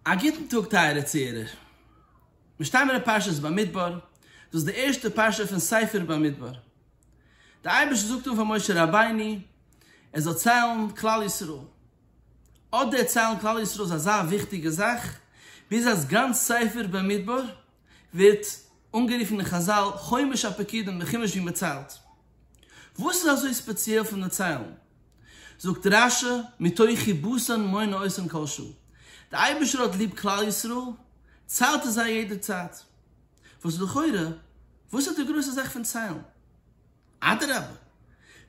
א גוטן טאג טייערע צוהערער. מיר שטייען אין פרשת במדבר, דאס איז די ערשטע פרשה פון ספר במדבר. דער אייבערשטער זאגט אן פאר משה רבינו ער זאל ציילן כלל ישראל. אט דער ציילן כלל ישראל איז אזא וויכטיגע זאך, ביז אז גאנץ ספר במדבר ווערט אנגערופן אין חזל חומש הפקידים די חומש ווי מען ציילט. וואס איז אזוי ספעציעל פון די ציילן? זאגט רש י מתוכי בשר מונה עשרים כל שעה, די אייבערשטער האט ליב כלל ישראל, ציילט ער זיי יעדע צייט. וואס איז לכאורה, וואס איז די גרויסע זאך פון ציילן? אדרבה,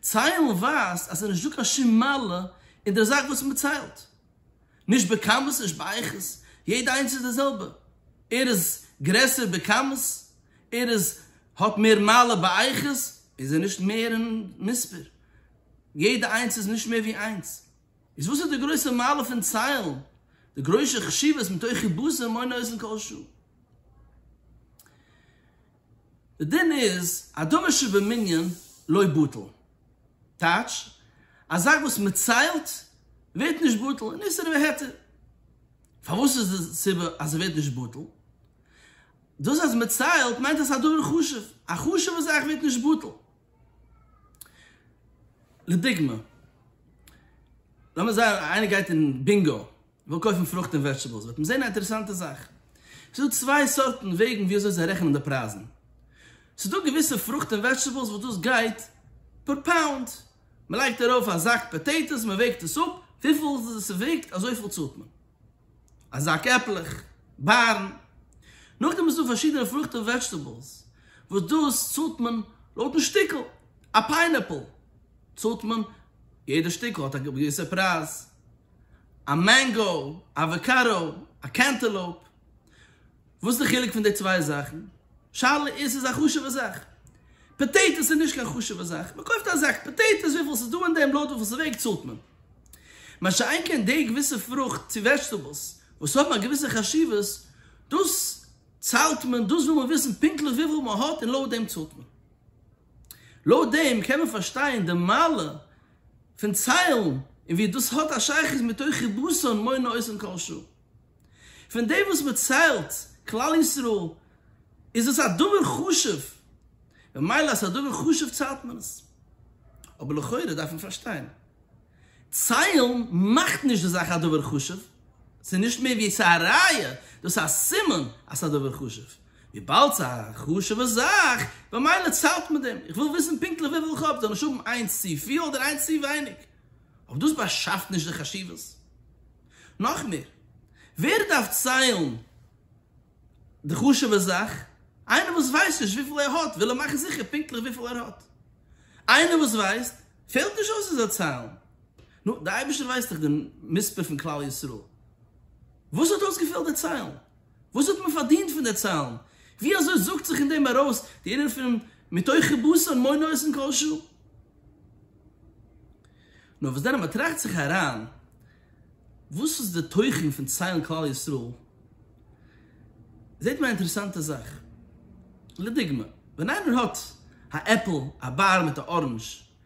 ציילן ווייזט אז עס איז נישטא קיין שום מעלה אין דער זאך וואס מען ציילט. נישט בכמות נישט באיכות, יעדע איינס איז די זעלבע, ער איז גרעסער בכמות, ער איז האט מער מעלה באיכות, איז ער נישט מער אין מספר, יעדע איינס איז נישט מער ווי איינס, איז וואס איז די גרויסע מעלה פון ציילן, די גרוישע חשיבות מתוכי בשר מונה אוזן כל שעה. די דין איז אדמה שבמנין לא בטל, טייטש, א זאך וואס מען ציילט ווערט נישט בטל, און איסור והיתר. פארוואס איז די סיבה אז עס ווערט נישט בטל? דאס אז מען ציילט מיינט אז עס איז א דבר חשוב, א חשוב'ע זאך ווערט נישט בטל. לדוגמא, לאמיר זיין איינער גייט אין בינגא וויל קויפן פרוכט און וועזשטעבעלס וועט מען זען א אינטערעסאנטע זאך. ס'איז דא צוויי סארטן וועגן ווי אזוי זיי רעכענען די פרייזן. ס'איז דא געוויסע פרוכט און וועזשטעבעלס וואס דאס גייט פער פאונד. מ'לייגט ארויף א זאק פאטעיטאס, מ'וועגט עס אפ, וויפיל ס'וועגט אזויפיל צאלט מען. א זאק עפלעך, בארן. נאכדעם איז דא פארשידענע פרוכט און וועזשטעבעלס וואס דאס צאלט מען לויטן שטיקל. א פיינעפל צאלט מען, יעדע שטיקל האט א געוויסע פרייז. א מענגא, אוואקאדא, א קענטעלאופ, וואס איז די חילוק פון די צוויי זאכן? שאלה איז ס'איז א חשוב'ע זאך. פאטעיטאס איז נישט קיין חשוב'ע זאך, מען קויפט א זאק פאטעיטאס וויפיל ס'איז דא אין דעם לויט וויפיל ס'וועגט צאלט מען. מה שאין כן די געוויסע פרוכט צו וועזשטעבעלס וואס האבן א געוויסע חשיבות, דאס צאלט מען, דאס וויל מען וויסן פונקטליך וויפיל מען האט און לויט דעם צאלט מען. לויט דעם קען מען פארשטיין די מעלה פון ציילן און ווי דאס האט א שייכות מיט תוכי בשר און מונה עושים כל שעה. פון דעם וואס מען ציילט כלל ישראל איז דאס א דבר חשוב, ממילא אז ס'איז א דבר חשוב ציילט מען עס. אבער לכאורה דארף מען פארשטיין, ציילן מאכט נישט די זאך א דבר חשוב, ס'איז נישט מער ווי ס'איז א ראיה, דאס איז א סימן אז ס'איז א דבר חשוב, וויבאלד ס'איז א חשוב'ע זאך, במילא ציילט מען דעם. איך וויל וויסן פונקטליך וויפיל איך האב, זאל איך האבן איינס צו פיל אדער איינס צו ווייניג? אבער דאס באשאפט נישט די חשיבות. נאך מער, ווער דארף ציילן די חשוב'ע זאך? איינער וואס ווייסט נישט וויפיל ער האט, וויל ער מאכן זיכער פונקטליך וויפיל ער האט. איינער וואס ווייסט, פעלט נישט אויס ער זאל ציילן. נו, דער אייבערשטער ווייסט דאך די מספר פון כלל ישראל. וואס האט אויסגעפעלט דערציילן? וואס האט מען פארדינט פון די צאלן? ווי אזוי זאגט זיך אין דעם ארויס די ענין פון מתוכי בשר מונע עשן כל שעה? נאר וואס דען אז מען טראכט זיך אריין וואס איז די תוכן פון ציילן כלל ישראל, זעט מען א אינטערעסאנטע זאך. לדוגמא, ווען איינער האט א עפל, א באר מיט א אראנדזש,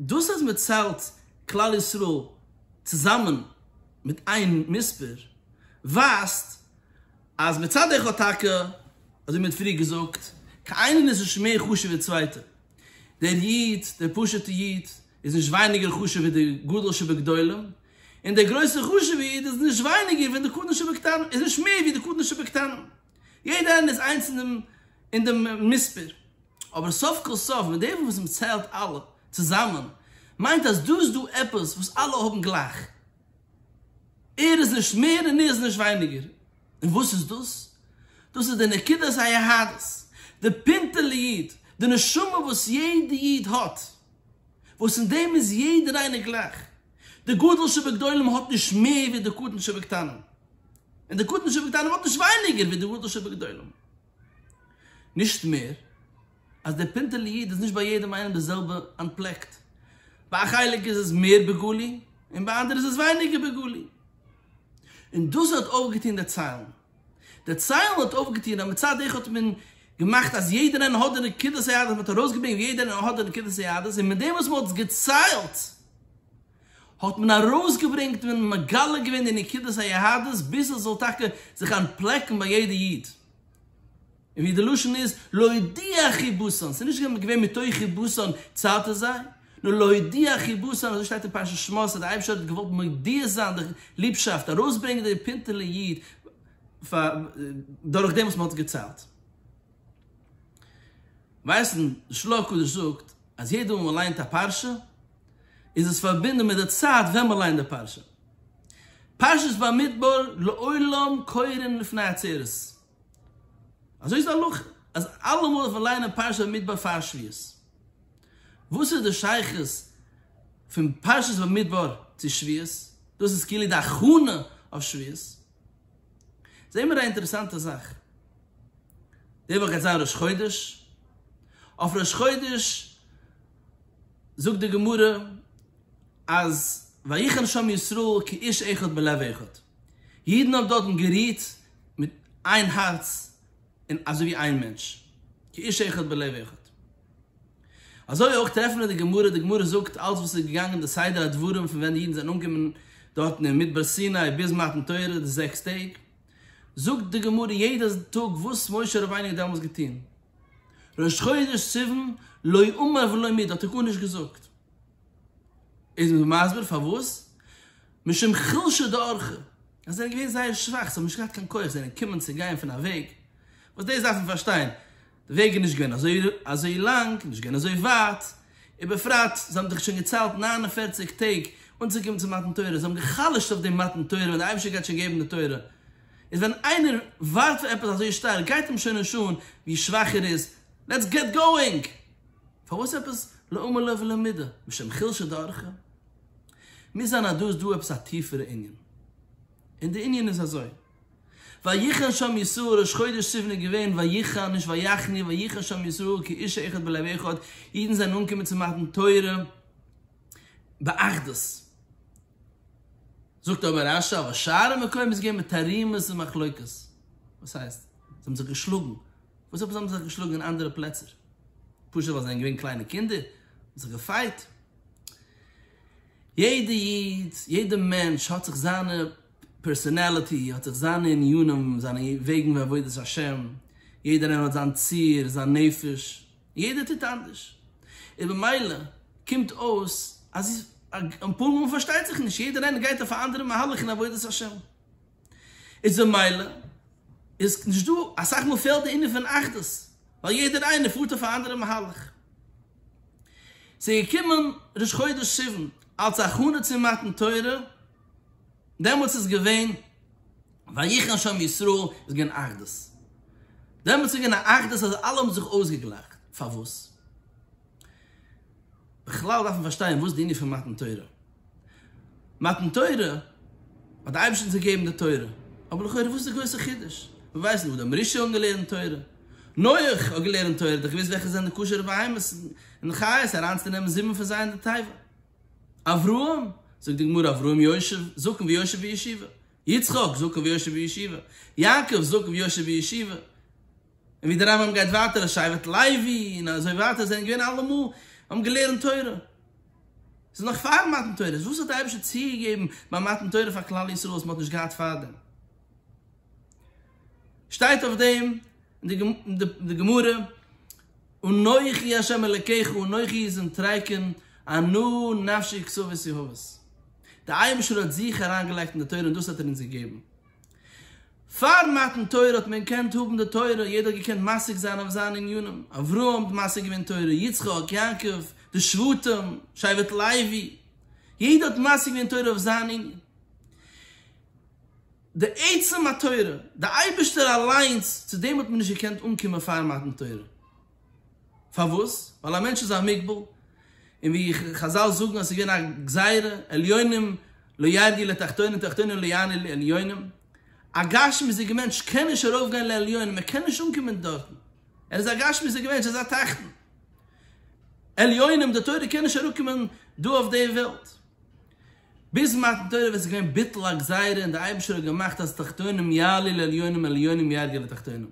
דאס אז מען ציילט כלל ישראל צוזאמען מיט איין מספר ווייזט אז מצד איך האט טאקע, אזוי מען האט פריער געזאגט, קיינער איז נישט מער חשוב ווי די צווייטע, דער איד, דער פשוט'ע איד, איז נישט ווייניגער חשוב ווי דער גדול שבגדולים, און דער גרויסער חשוב'ער איד איז נישט ווייניגער ווי דער קטן שבקטנים, איז נישט מער ווי דער קטן שבקטנים, יעדער איינער איז איינס אין דעם מספר. אבער סוף כל סוף מיט דעם וואס מען ציילט אלע צוזאמען מיינט אז דא איז דא עפעס וואס אלע האבן גלייך, ער איז נישט מער און ער איז נישט ווייניגער, און וואס איז דאס? דאס איז די נקודת היהדות, די פינטעלע איד, די נשמה וואס יעדע איד האט, וואס אין דעם איז יעדער איינער גלייך, די גדול שבגדולים האט נישט מער ווי די קטן שבקטנים, און די קטן שבקטנים האט נישט ווייניגער ווי די גדול שבגדולים. נישט מער, אז דער פינטעלע איד איז נישט ביי יעדעם איינעם די זעלבע אנטפלעקט, ביי א חלק איז עס מער בגלוי, און ביי אנדערע איז עס ווייניגער בגלוי. און דאס האט אויפגעטון דערציילן. דערציילן האט אויפגעטון אז מצד אחד האט מען געמאכט אז יעדער איינער האט די נקודת היהדות, מען האט ארויסגעברענגט ווי יעדער איינער האט די נקודת היהדות, און מיט דעם וואס מען האט עס געציילט, האט מען ארויסגעברענגט און מגלה געווען די נקודת היהדות ביז עס זאל טאקע זיך אנטפלעקן ביי יעדע איד, און ווי די לשון איז להודיע חיבוסן, ס'איז נישט געווען מתוך חיבוסן צייטו זיי, נאר להודיע חיבוסן, אזוי שטייט אין פרשת שמות אז דער אייבערשטער האט געוואלט מודיע זיין די ליבשאפט, ארויסברענגען די פינטעלע איד דורכדעם וואס מען האט עס געציילט. ווייסן, די של ה הקדוש זאגט. אז יעדע מאל מען ליינט א פרשה איז עס פארבינדען מיט די צייט ווען מען ליינט די פרשה. פרשת במדבר לעולם קורין לפני עצרת. אזוי איז די הלכה אז אלעמאל דארף מען ליינען פרשת במדבר פאר שביעות. וואס איז די שייכות פון פרשת במדבר צו שביעות? דאס איז כאילו די הכנה אויף שביעות. זעהן מיר א אינטערעסאנטע זאך, די וואך גייט זיין ראש חודש, אויף ראש חודש זאגט די גמרא אז ויחן שם ישראל כאיש אחד בלב אחד, אידן האבן דארטן גערוהט מיט איין הארץ און אזויווי איין מענטש, כאיש אחד בלב אחד. אזוי אויך טרעפן מיר די גמרא, די גמרא זאגט אלץ וואס איז געגאנגען די סדר הדברים פון ווען די אידן זענען אנגעקומען דארטן אין מדבר סיני ביז מתן תורה די זעקס טעג, זאגט די גמרא יעדע טאג וואס משה רבינו האט דעמאלס געטון, ראש חודש סיוון לא אמר ולא מיד האט ער גארנישט געזאגט, איז מען מסביר פארוואס, משום חלשא דאורחא, אז זיי זענען געווען זייער שוואך זיי האבן נישט געהאט קיין כח זיי זענען געקומען צו גיין פון א וועג, וואס דאס דארף מען פארשטיין, וועג איז נישט געווען אזוי אזוי לאנג, נישט געווען אזוי ווייט, ובפרט זיי האבן דאך שוין געציילט נײַן און פֿערציק טעג אנצוקומען צו מתן תורה, זיי האבן גע'חלש'ט אויף דעם מתן תורה ווען דער אייבערשטער גייט שוין געבן די תורה, איז ווען איינער ווארט פאר עפעס אזוי שטארק גייט אים שוין נישט אן ווי שוואך ער איז, לעטס געט גאואינג! פארוואס עפעס לא אומה לו ולא מידה, משום חלשה דארכה? מוז זיין אז דא איז דא עפעס א טיפערע ענין, און די ענין איז אזוי. ויחן שם ישראל ראש חודש סיוון איז געווען ויחן נישט ויחני ויחן שם ישראל כאיש אחד בלב אחד, אידן זענען אנגעקומען צו מתן תורה באחדות. זאגט אבער רשי אבער שאר המקומות איז געווען בתרעומות ומחלוקות. וואס הייסט? זיי האבן זיך געשלאגן? וואס זיי האבן זיך געשלאגן אין אנדערע פלעצער? פשוט ווייל זיי זענען געווען קליינע קינדער? זיך געפייט? יעדע איד, יעדע מענטש האט זיך זיינע פערסאנעליטי, האט זיך זיינע עניינים, זיינע וועגן בעבודת השם, יעדער איינער האט זיין ציר, זיין נפש, יעדער טוט אנדערש, און במילא קומט אויס אז אפאר מאל פארשטייט זיך נישט, יעדער איינער גייט אויף א אנדערע מהלך אין עבודת השם, איז במילא איז נישט דא, אסאך מאל פעלט די ענין פון אחדות, ווייל יעדער איינער פארט אויף א אנדערע מהלך. ס'איז געקומען ראש חודש סיוון אלס הכנה צום מתן תורה, דעמאלטס איז געווען ויחן שם ישראל, איז געווען אחדות, דעמאלטס איז געווען א אחדות אז אלע האבן זיך אויסגעגלייכט, פארוואס? בכלל דארף מען פארשטיין וואס די ענין פון מתן תורה, מתן תורה האט די אייבערשטער אונז געגעבן די תורה, אבער לכאורה וואס איז די גרויסע חידוש, מיר ווייסן וואס די אמרי ש האבן געלערנט תורה, נח האט געלערנט תורה, ער האט דאך געוואוסט וועלכע זענען די כשר'ע בהמות און חיות אריינצונעמען זיבן פון זיי אין די תיבה. אברהם, זאגט די גמרא, אברהם יושב, זקן ויושב בישיבה. יצחק, זקן ויושב בישיבה. יעקב, זקן ויושב בישיבה. און ווי די רמב ם גייט ווייטער אז שבט לוי און אזוי ווייטער זענען געווען אלעמאל האבן געלערנט תורה. ס'איז נאך פאר מתן תורה, וואס האט דער אייבערשטער צוגעגעבן ביי מתן תורה פאר כלל ישראל וואס מ'האט נישט געהאט פארדעם? שטייט אויף דעם אין די גמרא, אנכי ה' אלקיך אנכי איז אין טריקון ענו נפשי כסאות יהבות. דער אייבערשטער האט זיך אריין געלייגט אין די תורה און דאס האט ער אונז געגעבן. פאר מתן תורה האט מען געקענט האבן די תורה, יעדער האט געקענט משיג זיין אויף זיינע עניינים, אברהם האט משיג געווען תורה, יצחק, יעקב, די שבטים, שבט לוי, יעדער האט משיג געווען תורה אויף זיין ענין. די עצם התורה, די אייבערשטער אליינס, צו דעם האט מען נישט געקענט אנקומען פאר מתן תורה. פארוואס? ווייל א מענטש איז א מוגבל, און ווי חזל זאגן אז ס'איז געווען א גזירה, עליונים לא ירדו לתחתונים תחתונים לא יעלו לעליונים, א גשמיות'דיגער מענטש קען נישט ארויפגיין לעליונים, ער קען נישט אנקומען דארטן, ער איז א גשמיות'דיגער מענטש, ער איז א תחתון. עליונים, די תורה קען נישט אראפקומען דא אויף די וועלט. ביז מתן תורה וואס איז געווען ביטול הגזירה און דער אייבערשטער האט געמאכט אז תחתונים יעלו לעליונים עליונים ירדו לתחתונים.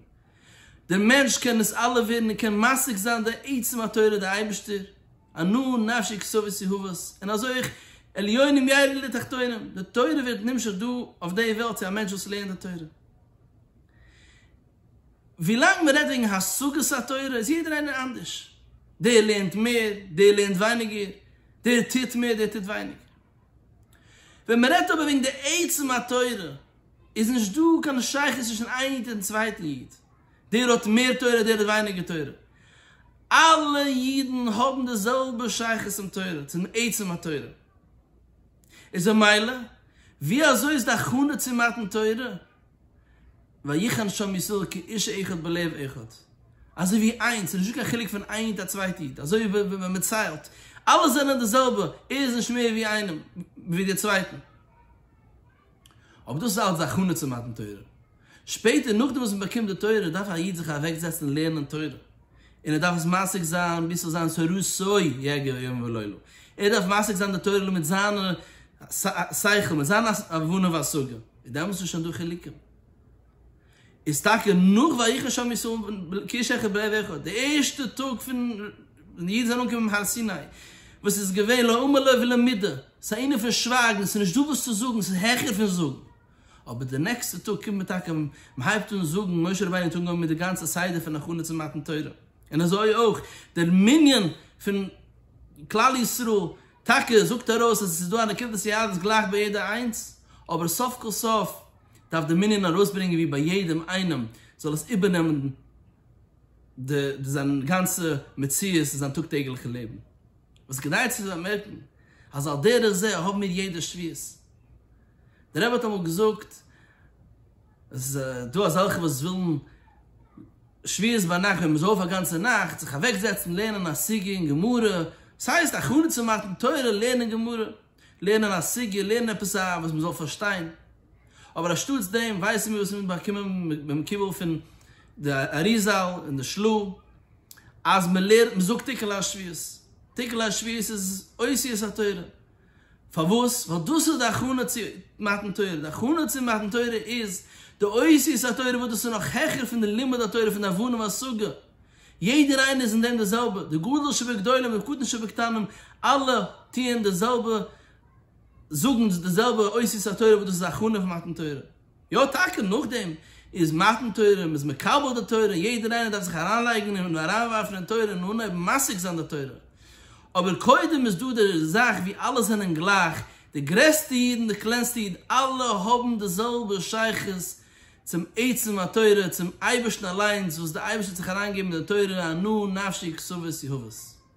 דער מענטש קען דאס אלע ווערן און קען משיג זיין די עצם התורה דער אייבערשטער, ענו נפשי כסאות יהוות, און אזוי אויך עליונים ירדו לתחתונים, די תורה ווערט נמשך דא אויף די וועלט צו א מענטש וואס לערנט די תורה. ווילאנג מ'רעדט וועגן השגת התורה איז יעדער איינער אנדערש, דער לערנט מער, דער לערנט ווייניגער, דער טוט מער, דער טוט ווייניגער. ווען מ'רעדט אבער וועגן די עצם התורה איז נישט דא קיין שייכות צווישן איין איד און צווייטן איד, דער האט מער תורה, דער האט ווייניגער תורה, אלע אידן האבן די זעלבע שייכות צום תורה, צום עצם התורה. איז ממילא ווי אזוי איז די הכנה צו מתן תורה? ויחן שם ישראל כאיש אחד בלב אחד, אזוי ווי איינס, ס'איז נישטא קיין חילוק פון איין איד א צווייטע איד, אזוי ווי ווען מען ציילט, אלע זענען די זעלבע, ער איז נישט מער ווי איינעם, ווי דער צווייטן. אבער דאס איז אלץ די הכנה צו מתן תורה. שפעטער נאכדעם וואס מען באקומט די תורה דארף א איד זיך אוועקזעצן לערנען תורה, און ער דארף עס משיג זיין ביז ס'זאל זיין ס'רצוי יגע יום ולילה, ער דארף משיג זיין די תורה מיט זיין שכל, מיט זיין הבנה והשגה. איז דעמאלס נישט דא חילוקים? איז טאקע נאך ויחן שם ישראל כאיש אחד בלב אחד, די ערשטע טאג פון ווען די אידן זענען אנגעקומען אין הר סיני, וואס איז געווען לא אמר לו ולא מיד, ס'איז איינער פון שווייגן, ס'איז נישט דא וואס צו זאגן, ס'איז העכער פון זאגן. אבער די נעקסטע טאג קומט מען טאקע, מ'הייבט אן זאגן, משה רבינו האט אנגעהויבן מיט די גאנצע סדר פון הכנה צו מתן תורה, און אזוי אויך דער מנין פון כלל ישראל טאקע זאגט ער אויס אז עס איז דא א נקודת יהדות גלייך ביי יעדע איינס, אבער סוף כל סוף דארף די מנין ארויסברענגען ווי ביי יעדעם איינעם זאל עס איבערנעמען די די זיין גאנצע מציאות אין זיין טאג טעגליכע לעבן. וואס כדאי צו באמערקן אז על דרך זה האבן מיר יעדע שביעות. דער רבי האט אמאל געזאגט. איז דא אזעלכע וואס ווילן שביעית ביינאכט ווען מען איז אויף א גאנצע נאכט זיך אוועק זעצן לערנען א סוגיא אין גמרא, עס הייסט הכנה צו מתן תורה, לערנען גמרא, לערנען א סוגיא, לערנען עפעס א וואס מען זאל פארשטיין, אבער אנשטאטס דעם ווייסן מיר וואס מיר האבן באקומען ביים קיבול פון די אריזל און די של ה אז מען לערנט מען זאגט תיקון ליל שביעית, תיקון ליל שביעית איז אוסיית התורה, פארוואס? ווייל דאס איז די הכנה צו מתן תורה, די הכנה צו מתן תורה איז די עושיות התורה וואס דאס איז נאך העכער פון די לימוד התורה פון די הבנה והשגה, יעדער איינער איז אין דעם די זעלבע, די גדול שבגדולים און קטן שבקטנים, אלע טוען די זעלבע, זאגן די זעלבע עושיות התורה וואס דאס איז הכנה פון מתן תורה. יא טאקע, נאכדעם איז מתן תורה, מ'איז מקבל די תורה, יעדער איינער דארף זיך אריינלייגן און אריינווארפן אין תורה און אנהייבן משיג זיין די תורה, אבער קודם איז דא די זאך ווי אלע זענען גלייך, די גרעסטע איד און די קלענסטע איד, אלע האבן די זעלבע שייכות צום עצם התורה, צום אייבערשטן אליינס, וואס די אייבערשטער האט זיך אריינגעגעבן אין די תורה, הנאה נפשי כסאות יהבות.